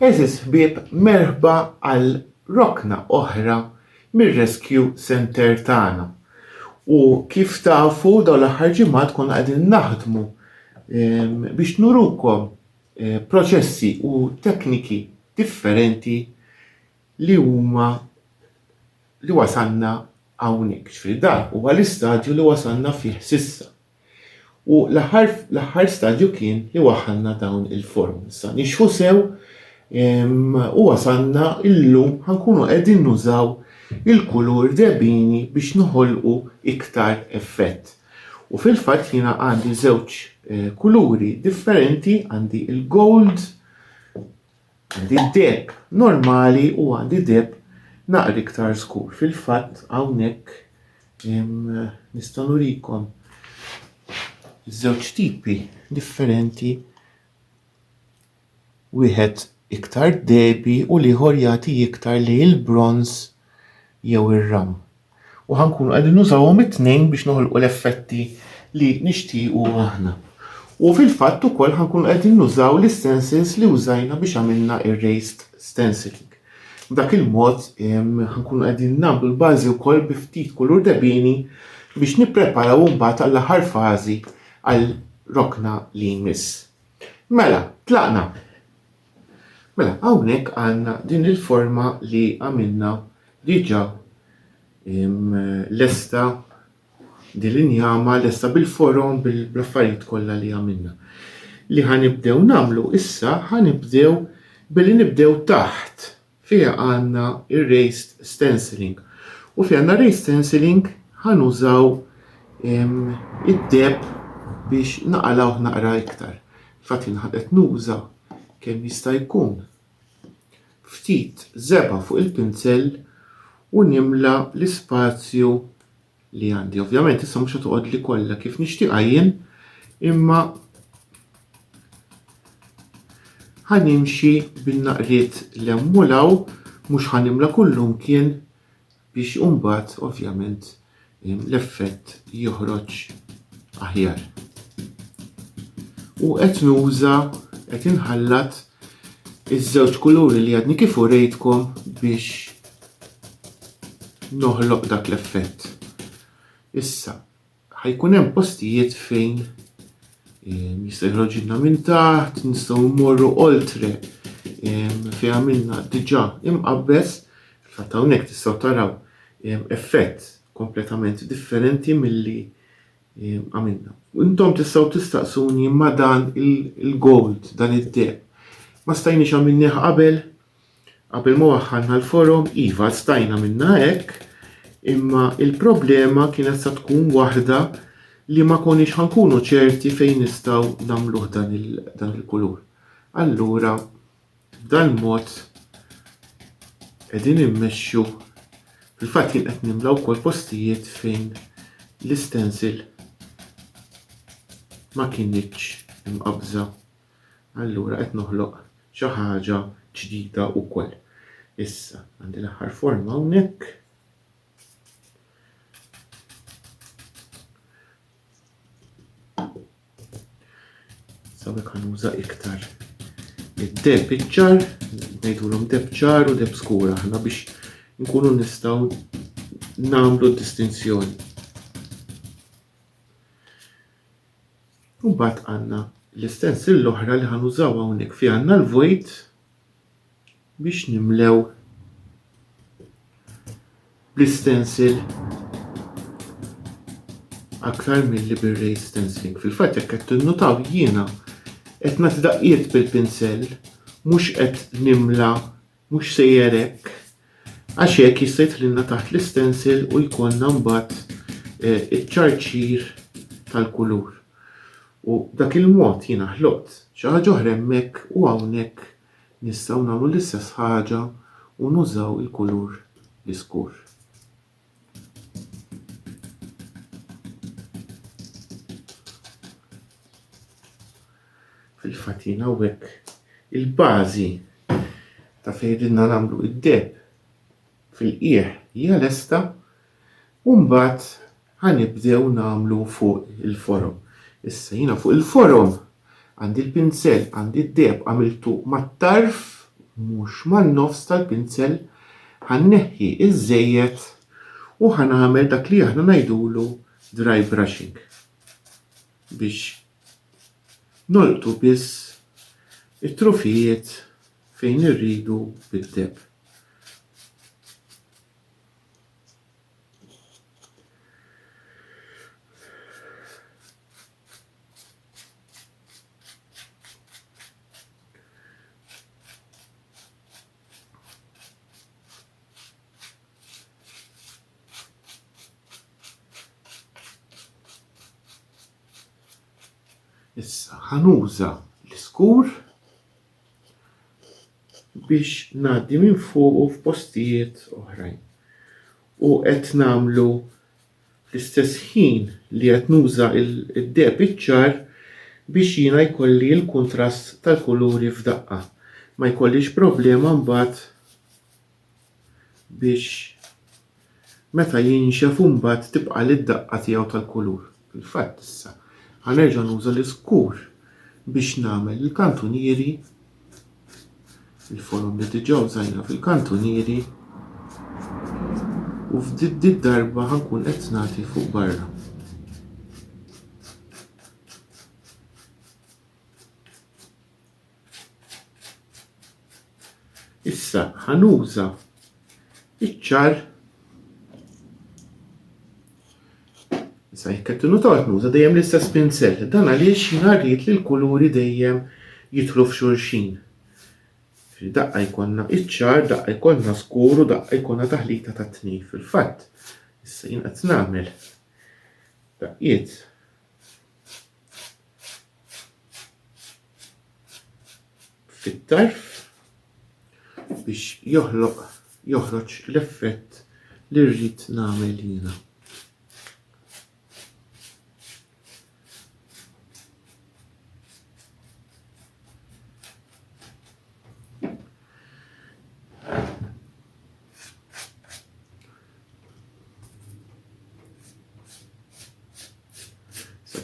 Għeżież ħbieb merħba għal rokna oħra mir-Rescue Centre tagħna. U kif tafu dawn l-aħħar ġimgħat konna qegħdin naħdmu ehm, biex nurukom eh, proċessi u tekniki differenti li huma li wasalna hawnhekk. Ġifieri dan huwa l-istadju li wasalna fih s'issa. U l-aħħar l-aħħar stadju kien li waħħalna dawn il-form. Issa nixħu sew u wasalna illum ħa nkunu qegħdin nużaw il-kulur debini biex noħolqu iktar effett. U fil-fatt jiena għandi żewġ kuluri differenti, għandi il-gold Għandi d-deheb normali u għandi deheb naqra iktar skur. Fil-fatt hawnhekk nista' nurikom żewġ tipi differenti wieħed iktar debi u l-ieħor jagħti iktar lejn il-bronż jew ir-ram. U ħa nkunu qegħdin nużawhom it-tnejn biex noħolqu l-effetti li nixtiequ aħna. U fil-fatt ukoll ħa nkunu qegħdin nużaw l-istensils li użajna biex għamilna ir-raised stenciling. B'dak il-mod ħa nkunu qegħdin nagħmlu l-bażi wkoll bi ftit kulur debini biex nippreparaw imbagħad għall-aħħar fażi għal rokna li jmiss. Mela, tlaqna! Mela, hawnhekk għandna din il-forma li għamilna diġà lesta din l-injama lesta bil-forom bl-affarijiet kollha li għamilna. Li ħanibdew nagħmlu issa ħanibdew billi nibdew taħt Fiha għandna r-raised stenciling u fiha għandna raised stenciling ħa nużaw id-deb biex naqalgħuh naqra iktar. Fatt jien qed nuża kemm jista' jkun ftit żebgħa fuq il-pinsell u nimla l-ispazju li għandi. Ovvjament issa mhux toqgħod li kollha kif nixtieqha jien, imma ħanimxi bin-naqriet li hemm u law mhux ħanimla kullum kien biex imbagħad ovvjament l-effett joħroġ aħjar. U qed nuża qed inħallat iż-żewġ kuluri li għadni kif urejtkom biex noħloq dak l-effett. Issa, ħajkun hemm postijiet fejn eh, jista' jħroġilna minn taħt, nistgħu mmorru oltre eh, fejn għamilna diġà imqabbes, fatt hawnhekk tistgħu taraw eh, effett kompletament differenti milli għamilna. Intom tistgħu tistaqsuni ma dan il-gold, dan id-deb. Ma stajniex għamilnieh qabel, Qabel ma waħħalna l-forom, iva stajna minna hekk, imma il-problema kienet sa tkun waħda li ma konix ħankunu ċerti fejn nistaw namluħ dan il-kulur. Allura, b'dan mod edin immexxu fil-fatt jien qed nimlaw kol postijiet fejn l-istensil ma kienieċ imqabża. allura qed noħloq xi ħaġa ġdida wkoll. Issa, għandi l-aħħar forma hawnhekk. Sawek ħanuża iktar id-deb iċ-ċar, ngħidulhom deb ċar u deb skura aħna biex nkunu nistgħu nagħmlu d-distinzjoni. U mbagħad għandna l-istensil l-oħra li ħanużaw hawnhekk fi għandna l-vojt biex nimlew bl-istensil aktar mill-li bir-ray stenciling. Fil-fatt jekk qed tinnutaw jiena qed nagħti daqqiet bil-pinsell mhux qed nimla Mhux sejjer hekk, għax hekk jista' jidħlilna taħt l-istensil u jkollna mbagħad eh, iċ-ċarċir tal-kulur. U dak il-mod jiena ħloqt xi ħaġa oħra hemmhekk u hawnhekk nistgħu nagħmlu l-istess ħaġa u nużaw il-kulur l-iskur. Fil-fatt jien hawnhekk il-bażi ta' fejn ridna nagħmlu id-deb fil-qiegħ hija lesta u mbagħad ħanibdew nagħmlu fuq il-forom. Issa jiena fuq il-forom Għandi l-pinsell, għandi d-deheb għamiltu mat-tarf mhux man-nofs tal-pinsell, ħa nneħħi ż-żejjed u ħa nagħmel dak li aħna ngħidulu dry brushing biex nolqtu biss it-trufijiet fejn irridu bid-deheb. Issa ħanuża l-iskur biex ngħaddi minn fuq f'postijiet oħrajn. U qed nagħmlu fl-istess ħin li qed nuża d-deheb iċ-ċar biex jiena jkolli l-kuntrast tal-kuluri f'daqqa. Ma jkollix problema mbagħad biex meta jinxef mbagħad tibqali d-daqqa tiegħu tal-kulur. Fil-fatt issa ħa nerġa' nuża l-iskur biex nagħmel il-kantunieri. Il-forom li diġà użajna fil-kantunieri u f'did darba ħankun qed nagħti fuq barra. Issa ħanuża iċ-ċar Issa jekk qed tinutawx nuża dejjem l-istess pinsell, dan għaliex jien rrid li l-kuluri dejjem jidħlu f'xulxin. Ġifieri daqqa jkollna iċ-ċar, daqqa jkollna skur u daqqa jkollna taħlita tat-tnejn. Fil-fatt, issa jien qed nagħmel daqqiet fit-tarf biex joħloq joħroġ l-effett li rrid nagħmel jiena.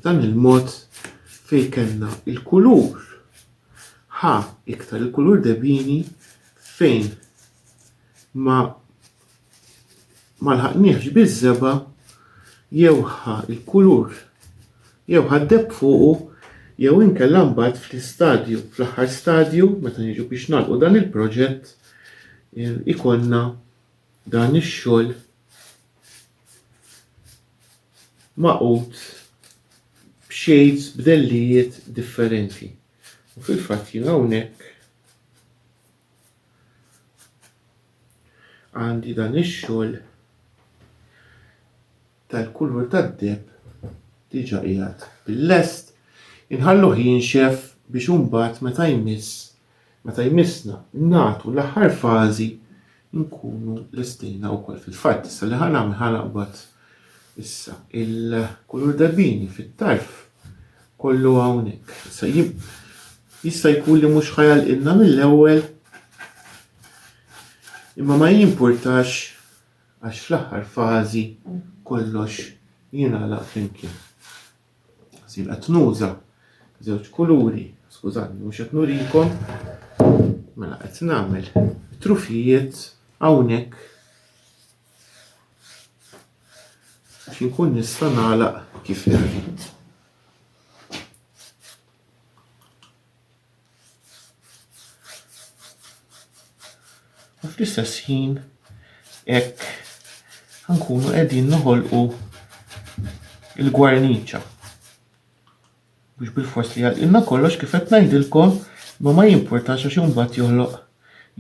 dan il-mod fej kellna il-kulur Ħa iktar il-kulur debini fejn ma ma lħaqniehx biż-żebgħa jew ħa il-kulur jew ħa d-deb fuqu jew inkella mbagħad fl-istadju fl-aħħar stadju meta niġu biex nagħlqu dan il-proġett ikollna dan ix-xogħol magħqud b'shades b'dellijiet differenti. U fil-fatt jien hawnhekk għandi dan ix-xogħol tal-kulur tad-deheb diġà qiegħed bil-lest. Inħalluh jinxef biex imbagħad meta jmiss Meta jmissna nagħtu l-aħħar fażi nkunu lestejna wkoll fil-fatt issa li ħa nagħmel ħa naqbad issa il-kulur dabbini fit-tarf kollu hawnhekk. Issa jista' jkun li mhux ħajalqilna mill-ewwel imma ma jimpurtax għax fl-aħħar fażi kollox jingħalaq flimkien. Sin qed nuża żewġ kuluri, skużani mhux qed nurikom, mela qed nagħmel trufijiet hawnhekk biex inkun nista' nagħlaq kif irrid. U fl-istess ħin hekk nkunu qegħdin noħolqu il-gwarniċa. Biex bil-fors li għalqilna kollox kif qed ngħidilkom ma ma jimpurtax għax imbagħad joħloq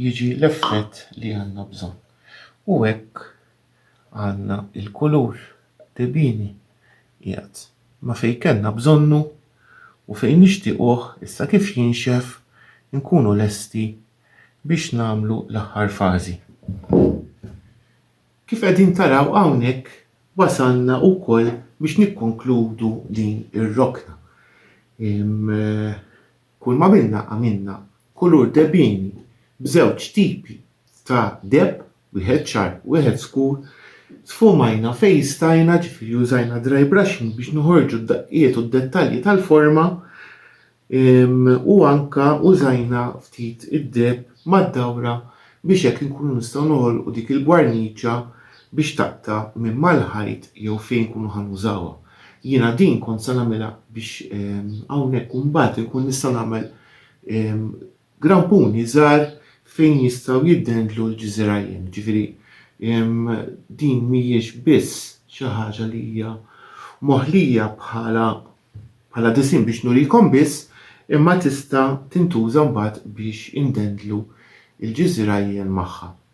jiġi l-effett li għandna bżonn. U hekk Għandna l-kulur debini qiegħed ma' fejn kellna bżonnu u fejn nixtiequh issa kif jinxef inkunu lesti biex nagħmlu l-aħħar fażi. Kif qegħdin taraw hawnhekk wasalna wkoll biex nikkonkludu din ir-rokna. Kull m'għamilna għamilna kulur debini b'żewġ tipi ta' deheb Wieħed ċar, wieħed skur, sfumajna fejn stajna, ġifieri użajna dry brushing biex noħorġu d-daqqiet u d-dettalji tal-forma u anke użajna ftit id-deheb mad-dawra biex hekk inkunu nistgħu noħolqu dik il-gwarniċa biex taqta' minn mal-ħajt jew fejn inkunu ħa nużawha. Jiena din kont se nagħmilha biex hawnhekk u mbagħad inkun nista' nagħmel Grampuni żgħar fejn jistgħu jiddendlu l-ġżirajjem. Jiġifieri din mhijiex biss xi ħaġa li hija moħlija bħala bħala disinn biex nurikom biss, imma tista' tintuża mbagħad biex indendlu l-ġżirajjem magħha.